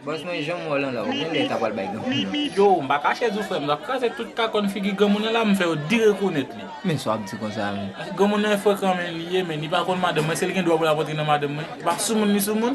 Bòs mwen janm wè w lan la, ou genlè ta pral bay granmoun nan. Yo, m pa kache di w frè m, w ap kraze tout kakòn figi granmoun nan la, m fè yo di rekonèt li. Men sa w ap di konsa a menm. Granmoun nan frekan menn, li ye menn, li pa konn madanm mwen, se li gen dwa pou l ap antre nan madanm mwen. Li pa soumoun li soumoun.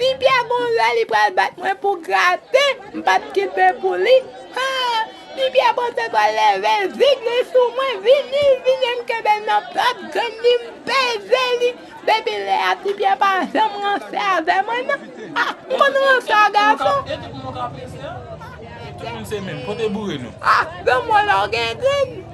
Pipyè gon lè li pral bat mwen pou grate m pap kite pou li haa Pipyè panse pral level zig li sou mwen vini vini m kenbel nan plat grenn li m peze li depi lè a Pipyè pa janm ranse avè mwen nan haa m konn ranse a gason haa lanmò la w gen grenn.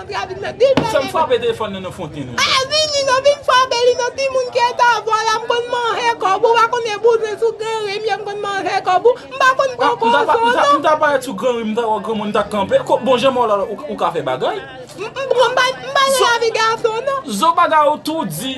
Sèm frape telefòn nan nan fonten non baz. Vini non vin frape li non ti moun kèt avwa la m konn manhe kob ou pa konnen bouzwen sou gran rim yo m konn manhe kob ou m pa konn pran kozo non. M ta parèt sou gran rim m ta wè granmoun m ta kanpe ko bon jan mò la ou ka fè bagay. M pa renmen lavi gason non. Zo bagay ou tou di.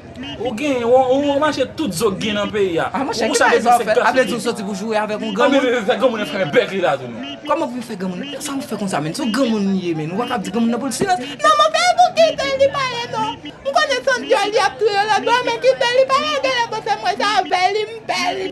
Ou gen, ou mache tout zo gen nan peyi a. A monchè, ki bagay sa w fè? A vle di ou soti pou joure avèk yon granmoun? Anben, fè granmoun nan fèmen bèk li la tou non. Kòman pou m fè granmoun nan? Sa w fè konsa menn? Se yon granmoun li ye menn. Ou pa kab di granmoun nan pou l silans. Non mon pè, pou ki tè li pale non? M konnen son dyòl li ap touye lòt bò, men ki tè li pale? Genlè bon se mwen sa avè li, m pè li.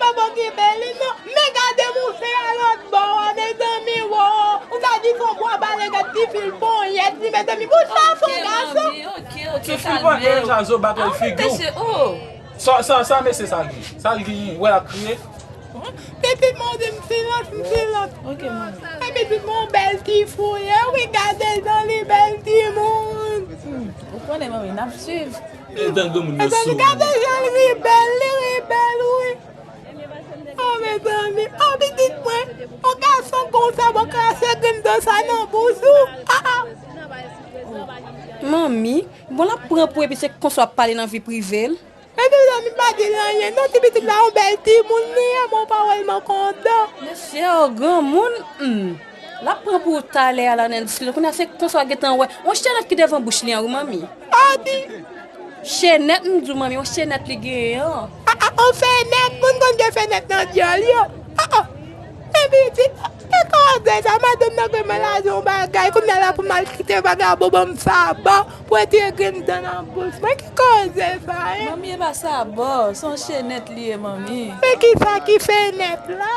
Bobo ki beli non. Men gade mouche a lot bò a mezanmi woo ou ka di fon bwa bale gad ti fil ponyèt li mezanmi bon sa fon gason. Ti fil ponyèt la zo batel figure w sa mesye sa gen sa l gen wè lap kriye. Depi mwen di m silans m silans. Epi tout mwen yon bèl ti fouyè wi gade jan li bèl timoun. Ou konnen manmi nap swiv. Mezanmi gade janl ri bel li ri bel wi oh mezanmi oh pitit mwen oh gason konsa bon krache grenn dan sa nan bouch ou ah ah. Manmi bon lap pran pou epi se konsa wap pale nan vi privel. Mezanmi pa dil anyen non ti pitit la yon bel timoun li ye mon pawol mwen kontan. Mesye oh granmoun humm. Lap pran pou ou talè a la nan dis li la kounya se konsa ou gentan wè yon chenèt ki devan bouch li an wi manmi ah di chenèt m di w manmi yon chenèt li genyen an ah ah yon fenèt moun konn gen fenèt nan dyòl yo ah ah men piti e kò anglè sa madanm nan gentan lage yon bagay kounya la pou maltrete vagabon ban m sabò pou retire grenn dan nan bouch mwen ki koze sa hein. Manmi e pa sabò se yon chenèt li ye manmi. Men kisa ki fenèt la.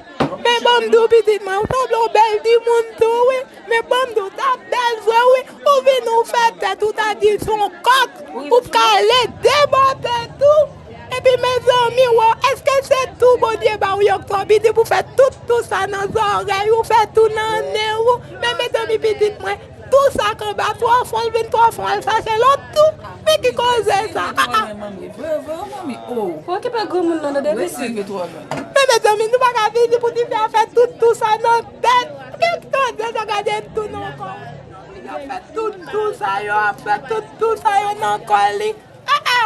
Men banm diw pitit mwen ou sanble yon bèl timoun tou wi men banm diw tap bèl vre wi ou vini ou fè tèt ou ta di son kòk ou pka ale debòte tou epi mezanmi wo eske se tou bondye baw yon kò pitit pou fè tout tou sa nan zòrèy ou fè tou nan nen ou men mezanmi pitit mwen Tou sak anba twa fwa l vin twa fwa l fache lòt tou men ki koze sa aa. Men mezanmi nou paka vini pou tifi a fè tout tou sa nan tèt gad tande sa gade tou nan kò li ap fè tout tou sa yo ap fè tout tou sa yo nan kò li aa.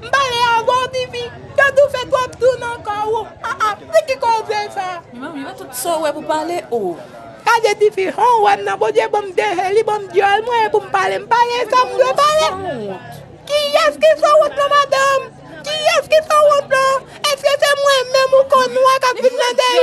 M pale avè w Vivi, Dadou fè twòp dou nan kò ou, ah ah, se ki kò w vle fè? Mwen menm, tout sa w wè pou pale oh. Gade tifi, han w wè m nan, Bondye ban m de je, li ban m dyòl, mwen pou m pale, m pale sa m vle pale. Kiyès ki san wont lan madanm? Kiyès ki san wont lan? Èske se mwen menm ou konn wè k ap vin nan dèyè?